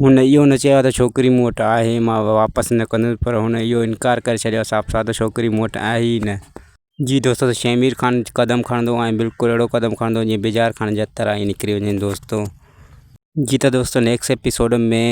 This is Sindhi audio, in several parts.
هن اهو نه چيو آهي ته ڇوڪري مون وٽ آهي مان اها واپس نه ڪندس پر هن اهو انڪار ڪري ڇڏيو آهي صاف صاف ته ڇوڪري مون وٽ آهي ئي نه. جي دوستو ته شهمير خان قدم کڻندو ۽ بلڪل اهڙو قدم کڻندو جيئن بجار خان جا ترا ئي نڪري وڃن دوستو. جي ته دوستو نيڪسٽ ايپيسوڊ ۾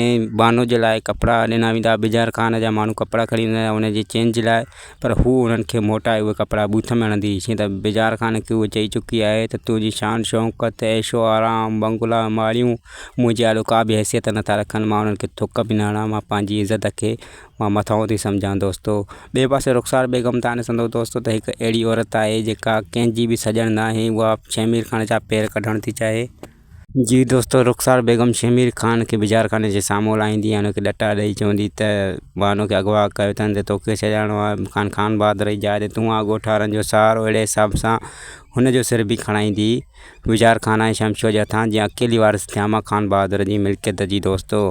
بانو جي لاء ڪپڙا ڏنا ويندا بجار خان جا ماڻهو ڪپڙا کڻي ويندا ان جي چينج لاء. پر هوء انهن کي موٽائي اهي ڪپڙا بوٿ ۾ هڻندي، شينهن ته بيزار ڪانه ڪيو، هوء چئي چڪي آهي ته تنهنجي شان شوڪت، عيش و آرام، بنگلا، ماڙيون، منهنجي آڏو ڪا به حيثيت نه ٿا رکن، مان انهن کي ٿڪ به نه هڻان، مان پنهنجي عزت کي مان مٿانهون ٿي سمجهان دوستو! ٻئي پاسي رخسار بيگم ته آني سندو دوستو ته هڪ اهڙي عورت آهي، جيڪا ڪنهن جي به سڄڻ ناهي، اها شهمير کان چا پير ڪڍڻ ٿي چاهي. جي دوستو رخسار بيگم شهمير خان کي بجارخاني جي سامهون لاهيندي ۽ هن کي ڏٽا ڏئي چوندي ته بانو کي اغوا ڪيو اٿن ته توکي سڏائڻو آهي مڪان خان بهادر جي جاء تي تون آ ڳوٺارن جو سهارو اهڙي حساب سان هن جو سر به کڻائيندي بجار خان ۽ شمشو جي هٿان جيئن اڪيلي وارث ٿيان مان خان بهادر جي ملڪيت جي دوستو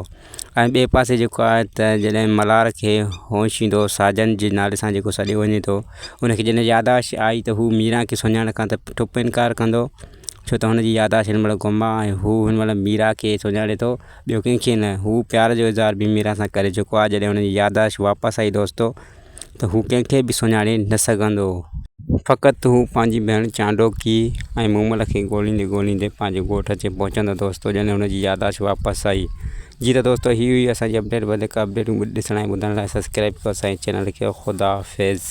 ۽ ٻئي پاسي جيڪو آهي ته جڏهن ملهار کي هوش ايندو ساجن جي نالي سان جيڪو سڏيو وڃي ٿو ان کي جڏهن ياداشت آئي ته هو ميران کي سڃاڻڻ کان ته ٺپ انڪار ڪندو ڇو ته هن جي ياداشت هن مهل گم آهي ۽ هو هن مهل ميرا کي سڃاڻي ٿو ٻيو ڪنهن کي نه هو پيار جو اظهار به ميرا سان ڪري چڪو آهي جڏهن هن جي ياداشت واپس آئي دوستو ته هو ڪنهن کي به سڃاڻي نه سگهندو فقط هو پنهنجي ڀيڻ چانڊوڪي ۽ مومل کي ڳولهيندي ڳولهيندي پنهنجي ڳوٺ اچي پهچندو دوستو جڏهن هن جي ياداشت واپس آئي جي ته دوستو هي هئي اسان جي اپڊيٽ وڌيڪ اپڊيٽون ڏسڻ ۽ ٻڌڻ لاء سبسڪرائب ڪيو اسان جي چينل کي خدا حافظ.